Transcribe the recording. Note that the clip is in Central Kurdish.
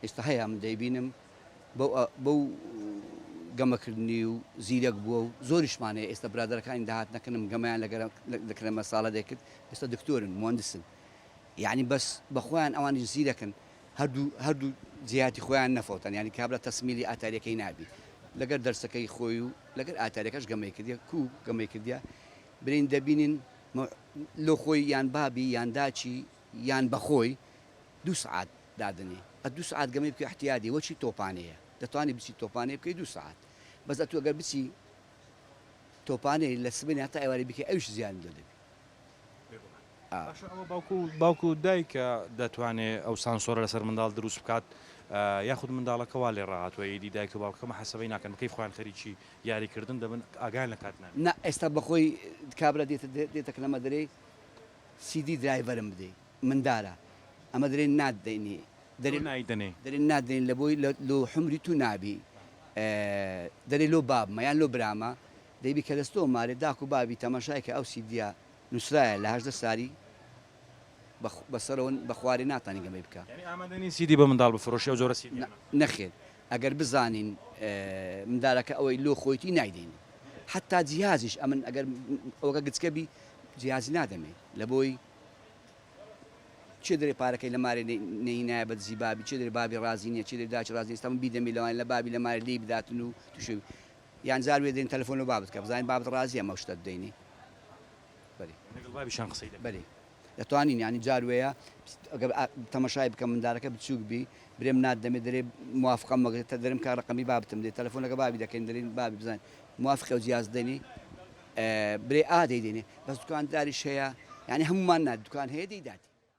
ئێستا هەیە من دەیبینم بەو بەو گەمە کردنی و زیرەک بووە و زۆریشمان هەیە ئێستا برادەرەکانی داهاتنە کنم گەمیان لەگەرە دەکرێمە ساڵە دەکرد ئێستا دکتۆرن مهندسن یعنی بەس بەخۆیان ئەوانیش زیرەکن هەردوو هەردوو جیاتی خۆیان نەفەوتان یعنی کابرا تەسمیلی ئاتاریەکەی نابی لەگەر دەرسەکەی خۆی و لەگەر ئاتاریەکەش گەمەی کردە کو گەمەی کردە برین دەبینین لۆ خۆی یان بابی یان داچی یان بەخۆی دوو سعات دادەنێ ئە دوو سەعات گەمەی بکە احتیادی وە چی تۆپانێیە دەتوانی بچی تۆپانێ بکەی دوو سەعات بەس ئەتوو گەر بچی تۆپانێ لە سبەینێ هەتا ئێوارێ بکەی ئەویش زیانی لۆ دەبی باشە ئەوە باوکو باوکو دایکە دەتوانێ ئەو سانسۆرە لەسەر منداڵ دروست بکات یاخود منداڵەکە وا لێ ڕاهاتوە ئیدی دایک و باوکەکە محەسەبەی ناکەن بکەی خۆیان خەریکی یاری کردن دەبن ئاگایان لە کات نابێ نا ئێستا بەخۆی کابرا دێتە دێتە کلەمە دەرێی سیدی درایڤەرم بدەی مندالە ئەمە درێن ناد دەینی. تۆ نای دەنێی. درێن ناد دەینی لە بۆی لۆ حومری تو نابی دەرێ لۆ بابمە یان لۆ برامە دەی بی کە لە ستۆ مارێ داکو بابی تەماشای کە ئەو سیدیە نوسرایە لە هەژدە ساری بە سەرەوە بە خوارێ ناتانی گەمەی بکە. یانی ئامادە نین سیدی بە مندال بفرۆشی ئەو جۆرە سیدیانە. نەخێر ئەگەر بزانین مندالەکە ئەوەی لۆ خۆیتی نای دەینی حەتا جیهازیش ئەمن ئەگەر ئەوەکە گچکە بی جیهازی نادەمێ لە بۆی. چێ دەرێ پارەکەی لە مارێ نەهینایە بە دزی بابی چێ دەرێ بابی ڕازی نیە چێ دەرێ داچ ڕازی نیە ئێستا من بیدەمێ لەوانیە لە بابی لە مارێ لێی بداتن و توشێ یان جار وێ دەین تەلەفۆن لە بابت کە بزانین بابت ڕازیە ئەمە شتە دەینی بەری لەگەڵ بابیشان قسەی دەکەن بەری دەتوانین یانی جار وەیە ئەگەر تەمەشای بکەم مندارەکە بچووک بی برێم نات دەمێ دەرێ موافقم مەگرێت تا دەرم کار ڕقمی بابتم دێت تەلەفۆن لەگە بابی دەکەین دەرین بابی بزانین موافقە و جیاز دەنی برێ ئا دەیدەینێ بەس دوکانداریش هەیە یانی هەموومان نا دوکان هەیە دەیداتێ.